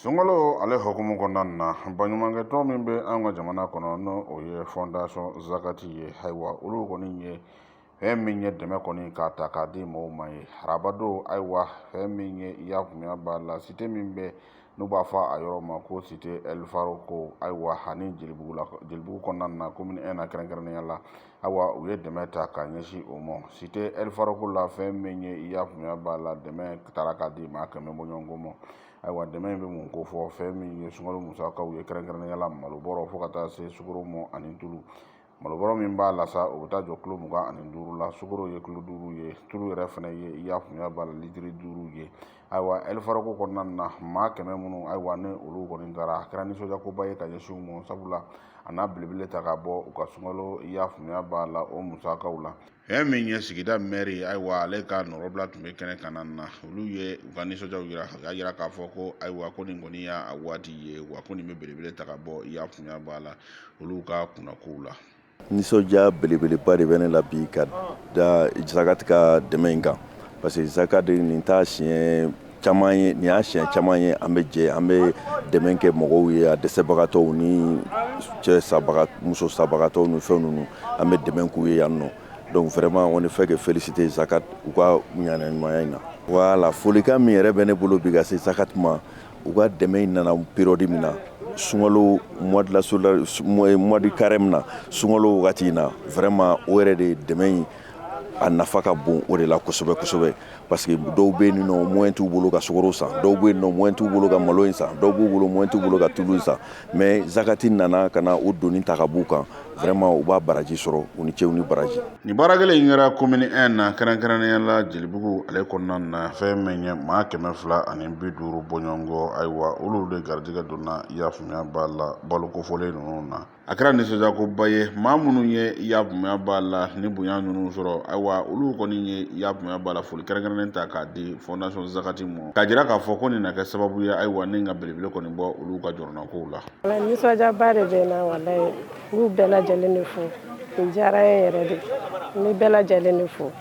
sunkalo ale hukumu kɔnɔna na baɲumankɛtɔn min bɛ an ka jamana kɔnɔ n'o o ye fondation zakati ye ayiwa olu kɔni ye fɛn min ye dɛmɛ kɔni k'a ta k'a di mɔgɔw ma ye arabadon ayiwa fɛn min ye i y'a faamuya b'a la site min bɛ n'u b'a fɔ a yɔrɔ ma ko site ɛlifarako ayiwa ani jelibugu kɔnɔna na komini ɛn na kɛrɛnkɛrɛnnenya la ayiwa u ye dɛmɛ ta ka ɲɛsin o ma site ɛlifarako la fɛn min ye i y'a faamuya b'a la dɛmɛ taara k'a di maa kɛmɛ bɔɲɔgɔnko ma ayiwa dɛmɛ in bɛ mun kofɔ fɛn min ye sunkalo musakaw ye kɛrɛnkɛrɛnnenya la malobɔrɔ fo ka taa se sukaro mɔ ani tulu malobɔrɔ min b'a la sa o bɛ taa jɔ kilo mugan ani duuru la sukaro ye kilo duuru ye tulu yɛrɛ fana ye i y'a faamuya b'a la litiri duuru ye ayiwa ɛlifarako kɔnɔna na maa kɛmɛ minnu ayiwa ni olu kɔni taara a kɛra nisɔndiyakoba ye ka ɲɛsin u ma sabula a n'a belebele ta ka bɔ u ka sunkalo i y'a faamuya b'a la o musakaw la Fɛn min ye sigida mɛri ye ayiwa ale ka nɔrɔbila tun bɛ kɛnɛ kan na olu ye u ka nisɔndiyaw yira u y'a yira k'a fɔ ko ayiwa ko nin kɔni y'a waati ye wa ko nin bɛ belebele ta ka bɔ i y'a faamuya b'a la olu ka kunnakow la nisɔndiya belebeleba de bɛ ne la bi ka da Zakati ka dɛmɛ in kan parce que Zakati nin t'a siɲɛ caman ye nin y'a siɲɛ caman ye an bɛ jɛ an bɛ dɛmɛ kɛ mɔgɔw ye a dɛsɛbagatɔw ni cɛ sabaga muso sabagatɔw ni fɛn ninnu an bɛ dɛmɛ k'u ye yan nɔ donc vraiment on ne fait que féliciter Zakat u ka ŋaniya ɲumanya in na voilà folikan min yɛrɛ bɛ ne bolo bi ka se Zakat ma u ka dɛmɛ in nana période min na sunkalo mois de la mois de carême na sunkalo wagati in na vraiment o yɛrɛ de dɛmɛ in a nafa ka bon o de la kosɛbɛ kosɛbɛ Parce que dɔw bɛ yen nɔ moyen t'u bolo ka sukaro san, dɔw bɛ yen nɔ moyen t'u bolo ka malo in san, dɔw b'u bolo moyen t'u bolo ka tulu in san mais Zakati nana ka na o doni ta ka bɔ u kan vraiment u b'a baraji sɔrɔ u ni ce u ni baraji. Nin baara kelen in kɛra commune 1 na kɛrɛnkɛrɛnnenya la Jelibugu ale kɔnɔna na fɛn min ye maa kɛmɛ fila ani bi duuru bɔɲɔgɔnko, ayiwa olu de garijɛgɛ donna i y'a faamuya b'a la baloko fɔlen ninnu na. a kɛra nisɔndiyakoba ye maa minnu ye i y'a faamuya b'a la ni bonya ninnu sɔrɔ ayiwa olu kɔni ye i y'a faamuya b'a la foli kɛrɛnkɛrɛnnen ta k'a di fondation zakati ma k'a jira k'a fɔ ko nin na kɛ sababu ye ayiwa ni ka belebele kɔni bɔ olu ka jɔrɔnakow la nisɔndiyaba de bɛ na walayi n b'u bɛɛ lajɛlen de fo nin diyara n ye yɛrɛ de n bɛ bɛɛ lajɛlen de fo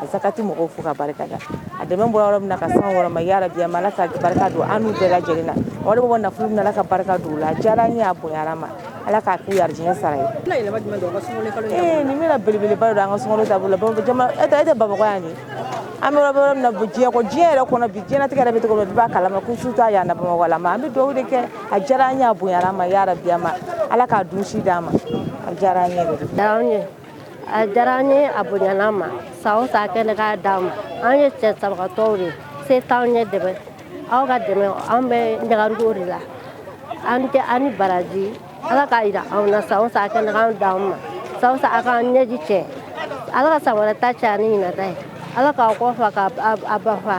Zakati mɔgɔw fo ka barika da a dɛmɛ bɔra yɔrɔ min na ka s'an yɔrɔ ma yarabi ala ka barika don an bɛɛ lajɛlen na wari bɔ nafolo min na ala ka barika don a la a diyara n ye a bonyara n ma ala k'a k'u arijinɛ sara ye nin bɛna belebeleba don an ka sun taabolo e e tɛ Bamakɔ yan de an bɛ yɔrɔ min na diɲɛ ko diɲɛ yɛrɛ kɔnɔ bi diɲɛlatigɛ yɛrɛ bɛ cogo min bɛɛ b'a kalama ko su t'a yan na Bamakɔ la an bɛ dugawu de kɛ a diyara an ye a bonyara an ma yarabi ala k'a dun si d'an ma a diyara an ye a diyara n ye a bonyana n ma san o san a kɛnɛ k'a d'an ma an ye cɛ sabagatɔw de se t'anw ye dɛmɛ aw ka dɛmɛ an bɛ ɲagariko de la aw ni baraji ala k'a jira anw na san o san a kɛnɛ k'a d'an ma san o san a k'an ɲɛji cɛ ala ka san wɛrɛ ta caya ni ɲinan ta ye ala k'aw kɔ fa k'a ba fa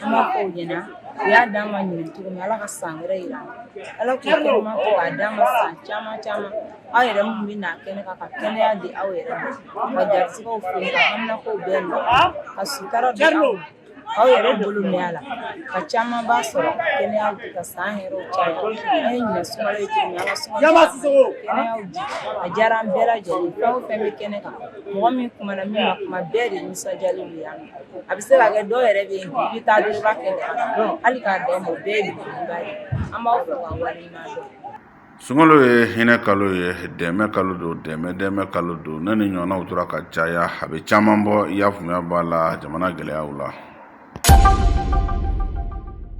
kuma fɔ u ɲɛna u y'a d'an ma ɲinɛ cogo min ala ka san wɛrɛ yira an na ala k'u kɛnɛma to k'a d'an ma san caman caman aw yɛrɛ minnu bɛ na kɛnɛ kan ka kɛnɛya di aw yɛrɛ ma ka garisigɛw foni ka haminakow bɛɛ nɔgɔya ka sutura di aw ma aw yɛrɛ bolo mɛɛn a la ka camanba sɔrɔ kɛnɛyaw di ka san hɛrɛw caya an ye ɲinɛ sunkalo ye cogo min an ka sunkalo kɛnɛyaw di a diyara an bɛɛ lajɛlen fɛn o fɛn bɛ kɛnɛ kan mɔgɔ min kumana min ma kuma bɛɛ de nisɔndiyalen don yan a bɛ se ka kɛ dɔw yɛrɛ bɛ yen bi i bɛ taa dɔrɔn i b'a kɛ ten hali k'a dan o ma o bɛɛ ye belebeleba ye an b'aw fo k'aw waleɲuman dɔn. sunkalo ye hinɛ kalo ye dɛmɛ kalo don dɛmɛ dɛmɛ kalo don ni nin ɲɔgɔnnaw tora ka caya a bɛ caman bɔ i y'a faamuya b'a la jamana gɛlɛyaw la